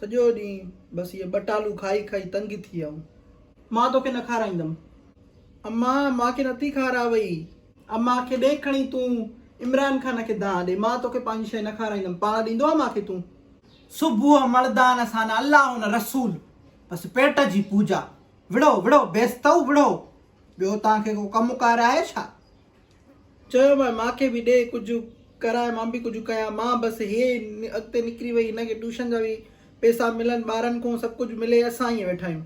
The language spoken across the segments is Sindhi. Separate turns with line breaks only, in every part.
سڄو ڏينهن بس اهي ٻٽالو کائي کائي تنگ ٿي ويا آهيون. مان توکي نه کارائيندم. اما مان کي نٿي کاراوئي. اما کي ڏي کڻي تون عمران خان کي دانهن ڏي. مان توکي پنهنجي شيء نه کارائيندم. پاڻ ڏيندو آهي مان کي تون. صبح مڙدان سان نه الله نه رسول بس پيٽ جي پوڄا. وڙهو وڙهو بيستئو وڙهو. ٻيو توهان کي ڪو ڪم ڪار آهي ڇا؟ چيو مانء مانکي به ڏي ڪجهه ڪراء مان به ڪجهه ڪيان مان بس هيء اڳتي نڪري وئي هن کي ٽيوشن جا به پئسا ملن ٻارن کون سڀ ڪجهه ملي اسان ائين ويٺا آهيون.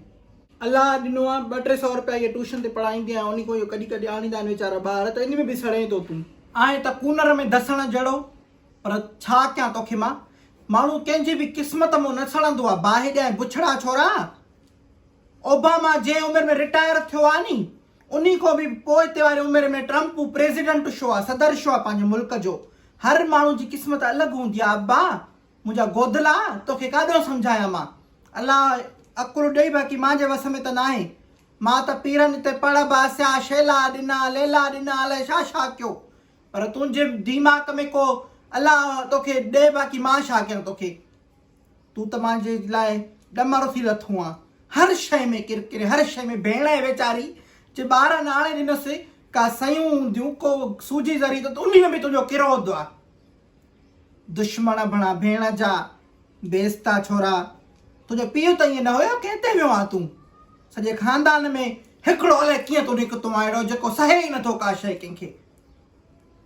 الله ڏنو آهي ٻه ٽي سئو رپيا هيء ٽيوشن تي پڙهائيندي آهي انهي کون اهو ڪڍي ڪڍي آڻيندا آهن ويچارا ٻار ته انهي ۾ به سڙين ٿو تون. آهين ته ڪونر ۾ ڌسڻ جهڙو پر ڇا ڪيان توکي مان ماڻهو ڪنهن جي به قسمت مون نه سڙندو آهي باهه ڄائين بڇڙا ڇورا اوباما جنهن عمر ۾ رٽائر ٿيو آهي ني انهي کان به پوئتي واري عمر ۾ ٽرمپ پريزيڊنٽ شو آ صدر شو آ پنهنجي ملڪ جو هر ماڻهو جي قسمت الڳ هوندي آ ابا منهنجا گودلا توکي ڪاڏهون سمجهايان مان الله عقل ڏئي باقي مان جي وس ۾ ته ناهي مان ته پيرن اتي پڙ باسيا شيلا ڏنا ليلا ڏنا الائي ڇا ڇا ڪيو پر تنهنجي ديماڪ ۾ ڪو الله توکي ڏئي باقي مان ڇا ڪيان توکي. تون ته مان جي لاء ڏمر ٿي لٿو آن. هر شيء ۾ ڪرڪري، هر شيء ۾ ڀيڻ آهي ويچاري، جي ٻارن آڻي ڏنس، ڪا سيون هونديون، ڪو سوجي ذري ته انهي ۾ به تنهنجو ڪرودھ آ. دشمن اڀڻا ڀيڻ جا، بيستا ڇورا، تنهنجو پيء ته ائين نه هيو، ڪنهن تي ويو آن تون؟ سڄي خاندان ۾ هڪڙو الائي ڪيئن تون نڪتو آن اهڙو، جيڪو سهي ئي نٿو ڪا شيء ڪنهن کي.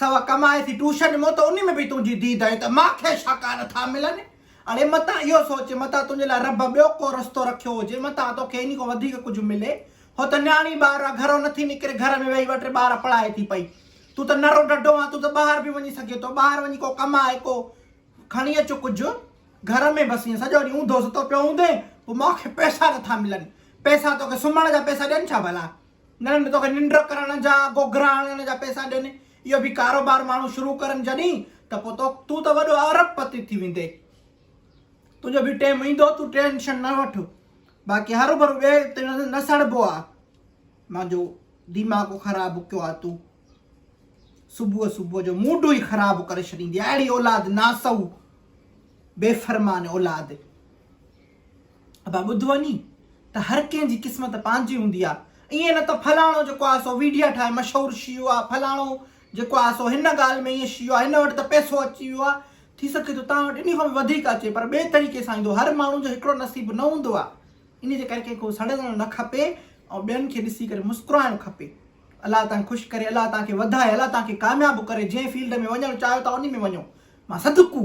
سوا ڪمائي ٿي ٽوشن مون ته انهي ۾ به تنهنجي ديد آهي ته مان کي شاڪار نٿا ملن اڙي متان اهو سوچ متان تنهنجي لاء رب ٻيو ڪو رستو رکيو هجي متان توکي انهي کان وڌيڪ ڪجهه ملي هو ته نياڻي ٻار آ گهرو نٿي نڪري گهر ۾ ويهي ٻه ٽي ٻار پڙهائي ٿي پئي تون ته نرو ڍڍو آ تون ته ٻاهر به وڃي سگهي ٿو ٻاهر وڃي ڪو ڪمائي ڪو کڻي اچ ڪجهه گهر ۾ بس ائين سڄو ڏينهن اونڌو ستو پيو هوندين پوء مان کي پئسا نٿا ملن پئسا توکي سمهڻ جا پئسا ڏين ڇا ڀلا. نه نه توکي ننڊ ڪرڻ جا گوگرا هڻڻ جا پئسا ڏين اهو به ڪاروبار ماڻهو شروع ڪرن جڏهين ته پوء تو تون ته وڏو ارب پتي ٿي ويندين تنهنجو به ٽيم ايندو تون ٽينشن نه وٺ باقي هر ڀرو ٻي تي نه سڙبو آ مانجو دماغ خراب ڪيو آ تون صبح صبح جو موڊ ئي خراب ڪري ڇڏيندي اهڙي اولاد ناسو بي فرمان اولاد ابا ٻڌ وڃي ته هر ڪنهن جي قسمت پنهنجي هوندي آ ائين نه ته فلاڻو جيڪو آ سو ويڊيا ٺاهي مشهور شيو آ فلاڻو جيڪو آ سو هن ڳالهه ۾ ائين شيو آ هن وٽ ته پئسو اچي ويو آ ٿي سگهي ٿو توهان وٽ انهي کان به وڌيڪ اچي پر ٻئي طريقي سان ايندو هر ماڻهو جو هڪڙو نصيب نه هوندو آ انهي جي ڪري ڪنهن کي سڙيلڻ نه کپي ۽ ٻين کي ڏسي ڪري مسڪرائڻ کپي الله تان خوش ڪري الله تان کي وڌائي الله تان کي ڪامياب ڪري جنهن فيلڊ ۾ وڃڻ چاهيو ٿا انهي ۾ وڃو مان صدقو